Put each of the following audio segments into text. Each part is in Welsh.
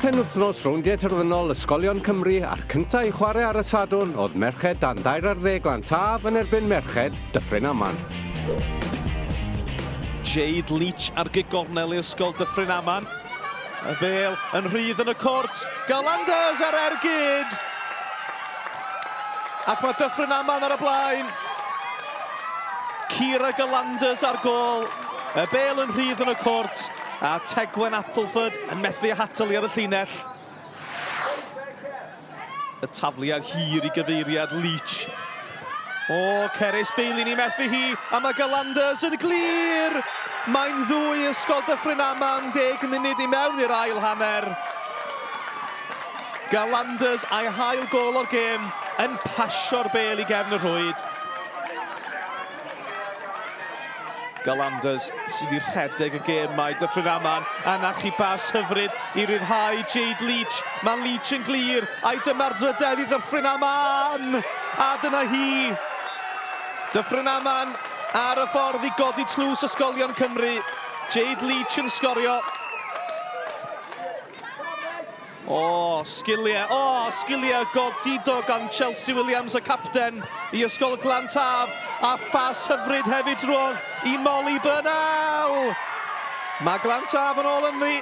Penwythnos rowndiau terfynol Ysgolion Cymru a'r cyntaf i chwarae ar y Sadwrn oedd merched dan dair ar ddeg lan taf yn erbyn merched Dyffryn Aman. Jade Leach ar gigornel i Ysgol Dyffryn Aman. Y bel yn rhydd yn y cwrt. Galanders ar er gyd. Ac mae Dyffryn Aman ar y blaen. Cira Galanders ar gol. Y bel yn rhydd yn y cwrt. A Tegwen Appleford yn methu â hatal ar y llinell. Y tafliad hir i gyfeiriad Leach. O, Cerys Bailey ni methu hi, a mae Galanders yn glir! Mae'n ddwy ysgol Dyffryn Aman, deg munud i mewn i'r ail hanner. Galanders a'i hail gol o'r gêm yn pasio'r bel i gefn y rhwyd. Galanders sydd wedi rhedeg y gêm mae Dyffryn Aman yn achu bas hyfryd i ryddhau Jade Leach. Mae Leach yn glir a'i dyma'r drydedd i Ddyffryn Aman. A dyna hi. Dyffryn Aman ar y ffordd i godi tlws ysgolion Cymru. Jade Leach yn sgorio. O! Sgiliau! O! Sgiliau godidog gan Chelsea Williams, y capten i Ysgol Glan Taf, a phas hyfryd hefyd drwodd i Molly Burnell! Mae Glan Taf yn ôl ynddi.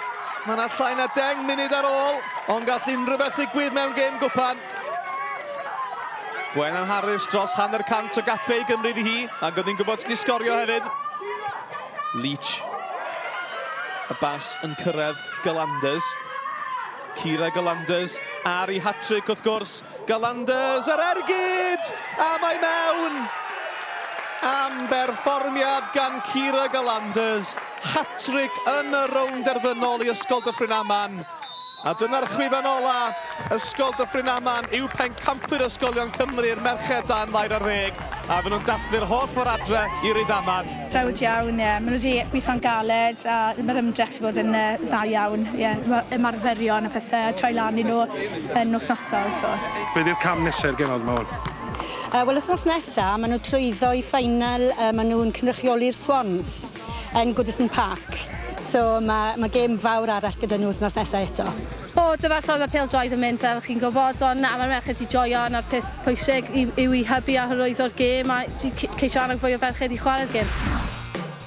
Mae 'na llai na deng munud ar ôl, ond gall unrhyw beth ddigwydd mewn gêm gwpan. Gwennan Harris dros hanner cant o gapiau i gymryd i hi, ac oedd hi'n gwybod sut i sgorio hefyd. Leach. Y bas yn cyrraedd Gallanders. Kira Gallanders ar ei hat-trick wrth gwrs. Gallanders yr ergyd! A mae mewn! Am berfformiad gan Kira Gallanders. Hat-trick yn y rownd derfynol i Ysgol Dyffryn Aman. A dyna'r chwifan ola, Ysgol Dyffryn Aman yw pencampwyr ysgolion Cymru i'r merched dan ddair ar ddeg, a fy nhw'n dathlu'r holl ffordd adre i Rydaman. Browd iawn, ie. Maen nhw wedi gweithio'n galed a mae'r ymdrech wedi bod yn dda iawn, ie. Mae ymarferion a pethau yn troi lan i nhw yn wythnosol, so. Be di'r cam nesa i'r genod ma wan? Wel wythnos nesa, maen nhw'n trwyddo i final, maen nhw'n cynrychioli'r Swans. yn Goodison Park. So mae mae gêm fawr arall gyda nhw wythnos nesa eto. O, dyna ffordd mae pêl-droed yn mynd fel chi'n gwybod, ond na, mae'r merched 'di joio a 'na'r peth pwysig yw yw i hybu a hyrwyddo'r gêm a j- c- ceisio annog fwy o ferched i chwarae'r gêm.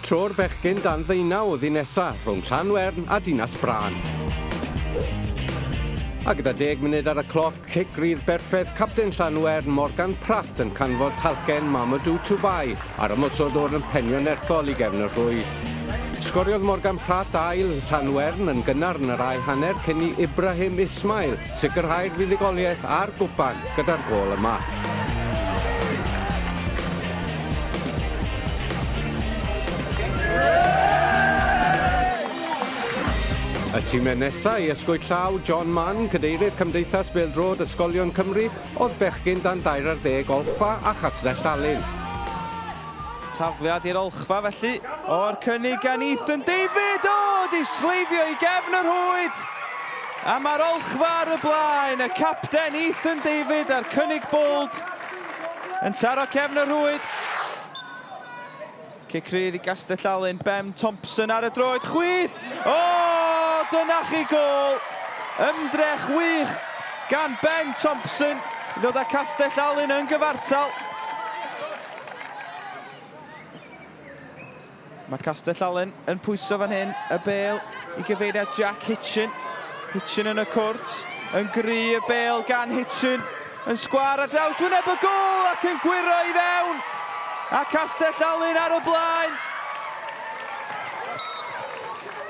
Tro'r bechgyn dan ddeunawdd un nesa rhwng Llanwern a Dinas Brân. A gyda deg munud ar y cloc, Cic rydd berffaith capten Llanwern Morgan Pratt yn canfod talcen Mamadou Toubai ar ymosod o'r yn penio nerthol i gefn y rhwyd. Sgoriodd Morgan Pratt ail Llanwern yn gynnar yn yr ail hanner cyn i Ibrahim Ismail sicrhau'r fuddugoliaeth a'r gwpan gyda'r gôl yma. Y time nesaf i ysgwyd llaw John Mann, Cadeirydd Cymdeithas Bêl-droed Ysgolion Cymru, oedd bechgyn dan dair ar ddeg Olchfa a Chastell Alun. Tafliad i'r Olchfa felly, o'r cynnig gan Ethan David, o! 'di sleifio i gefn y rhwyd! A mae'r Olchfa ar y blaen, y capten Ethan David a'r cynnig bold yn taro cefn y rhwyd. Cic rydd i Gastellalun, Ben Thompson ar y droed, chwith! O! Dyna chi gôl! Ymdrech wych gan Ben Thompson i ddod â Castellalun yn gyfartal. Mae Castellalun yn pwyso fan hyn y bel i gyfeiriad Jack Hitchin. Hitchin yn y cwrt, yn gry y bel gan Hitchin. Yn sgwâr ar draws wyneb y gôl ac yn gwyro i fewn. A Castell Alun ar y blaen.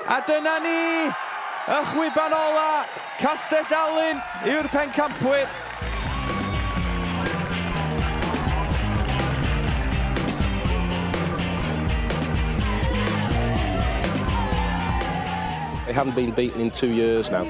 A dyna ni, y chwiban ola, Castell Alun yw'r pencampwyr. They haven't been beaten in two years now.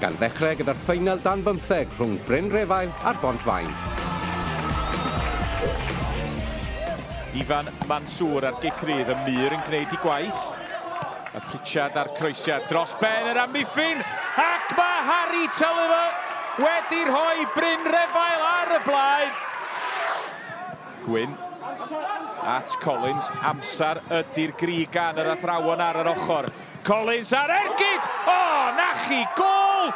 gan ddechrau gyda'r ffeinal dan bymtheg rhwng Bryn Refail a'r Bont Faen. Ifan Mansour a'r gic rydd y mur yn gwneud i gwaith. A Pritchard a'r croesiad dros ben yr amddiffyn, ac mae Harry Tulliver wedi rhoi Bryn Refail ar y blaen. Gwyn at Collins, amser ydy'r gri gan yr athrawon ar yr ochr. Collins ar ergyd! O, 'na chi, gôl!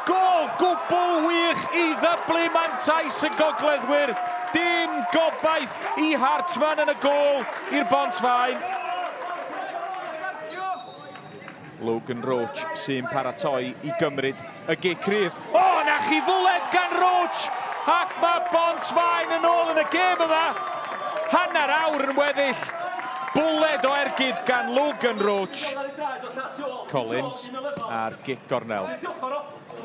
Gôl gwbl wych i ddyblu mantais y gogleddwyr, dim gobaith i Hartman yn y gôl i'r Bont Faen. Logan Roach sy'n paratoi i gymryd Y gig cryf. O! 'Na chi fwled gan Roach! Ac mae Bont-faen yn ôl yn y gêm yma! Hanner awr yn weddill. Bwled o ergyd gan Logan Roach. Collins a'r gig gornel.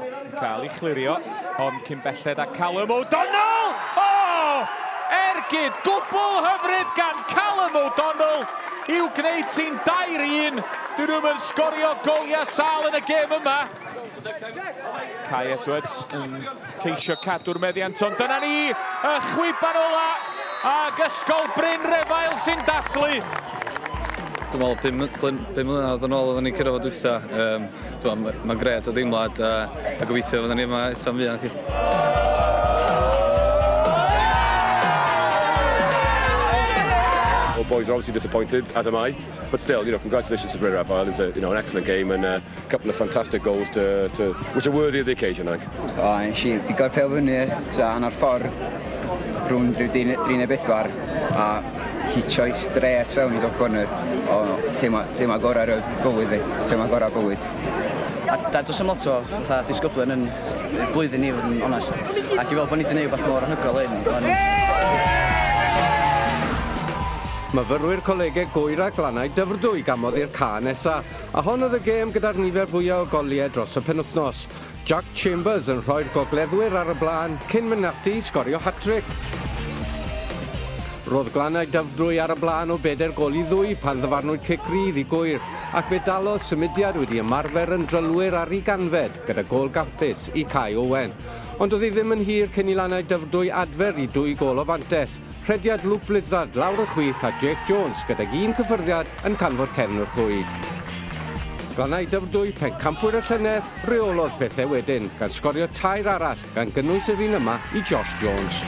Yn cael ei chlirio, ond cyn belled â Callum O'Donnell! O! Ergyd gwbl hyfryd gan Callum O'Donnell i'w gwneud ti'n 2-1. Dyn nhw'm yn sgorio goliau sâl yn y gêm yma. Kai Edwards yn ceisio cadw'r meddiant, ond dyna ni, y chwiban ola, ag Ysgol Bryn Refael sy'n dathlu. Dwi'n meddwl, pum, pum, pum mlynedd yn ôl oedden ni'n cyrraedd fod wytha. Um, Mae'n ma gret o deimlad a, a gobeithio fydden ni yma eto'n fuan chi. Well, boys are obviously disappointed, as am I. But still, you know, congratulations to Bryn Rafael. It was a, you know, an excellent game and uh, couple of fantastic goals to, to which are worthy of the occasion, I think. O, nes i bigo'r pel fyny, ta hanner ffordd, rhwng rhyw dri neu bedwar, a hitio i stret fewn i dop corner. O, teimlo, teimlo gorau'r bywyd fi, teimlo gorau bywyd. A da, dos am lot o fatha disgyblion yn blwyddyn ni, fod yn onest. Ac i fel bod ni wedi gwneud rhywbeth mor anhygoel hyn, ond... Myfyrwyr Colegeg Gŵyr a Glannau Dyfrdwy gamodd i'r ca nesa. A hon oedd y gêm gyda'r nifer fwya' o goliau dros y penwythnos. Jack Chambers yn rhoi'r gogleddwyr ar y blaen cyn mynd ati i sgorio hat-tric. Roedd Glannau Dyfrdwy ar y blaen o bedair gol i ddwy pan ddyfarnwyd cic rydd i Gŵyr, ac fe dalodd symudiad wedi ymarfer yn drylwyr ar ei ganfed gyda gol gampus i Cai Owen. Ond oedd hi ddim yn hir cyn i Lannau Dyfrdwy adfer i dwy gol o fantes. Rhediad Luke Blizzard lawr y chwith a Jake Jones gydag un cyffyrddiad yn canfod cefn y rhwyd. Glannau Dyfrdwy, pencampwyr y llynedd, reolodd pethau wedyn, gan sgorio tair arall, gan gynnwys yr un yma i Josh Jones.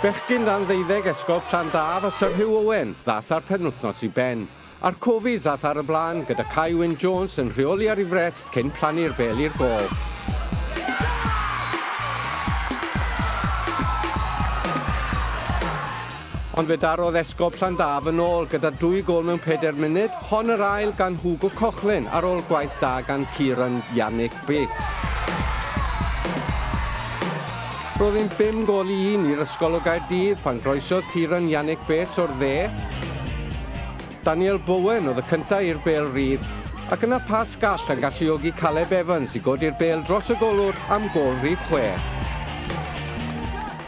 Bechgyn dan ddeuddeg Ysgol Llandaf a Sir Hugh Owen ddaeth â'r penwythnos i ben. A'r Cofies ath ar y blaen, gyda Cai Wyn Jones yn rheoli ar ei frest cyn plannu'r bêl i'r gôl. Ond fe darodd Esgob Llandaf yn ôl gyda dwy gôl mewn pedair munud, hon yr ail gan Hugo Cochlin ar ôl gwaith da gan Kieran Yannick Wyt. Roedd yn bum gol i un i'r ysgol o Gaerdydd pan groesodd Kieran Yannick Bates o'r dde. Daniel Bowen oedd y cyntaf i'r bêl rydd, ac yna pas gall yn galluogi Caleb Evans i godi'r bêl dros y golwr am gol rhif chwech.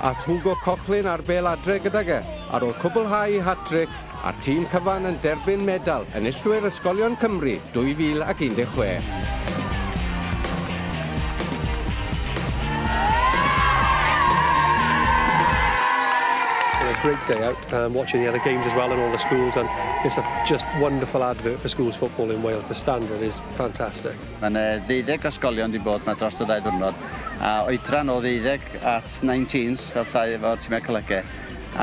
Ath Hugo Cochlin ar bêl adre gydag e ar ôl cwblhau ei hat-tric a'r tîm cyfan yn derbyn medal Enillwyr Ysgolion Cymru 2016. great day out um, watching the other games as well in all the schools and it's a just wonderful advert for schools football in Wales. The standard is fantastic. Mae'n uh, ddeuddeg ysgolion di bod yma dros y ddau ddwrnod a oedran o ddeuddeg at 19s fel tai efo tîmau colege.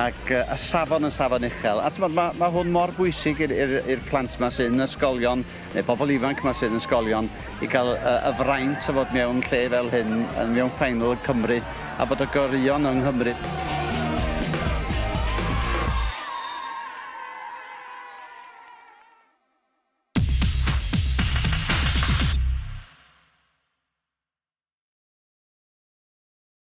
Ac y safon yn safon uchel. A t'mod, ma' ma' hwn mor bwysig i'r i'r i'r plant 'ma sydd yn ysgolion, neu pobl ifanc 'ma sydd yn ysgolion, i ga'l y y fraint o fod mewn lle fel hyn, yn mewn final yn Cymru, a bod y goreuon yng Nghymru.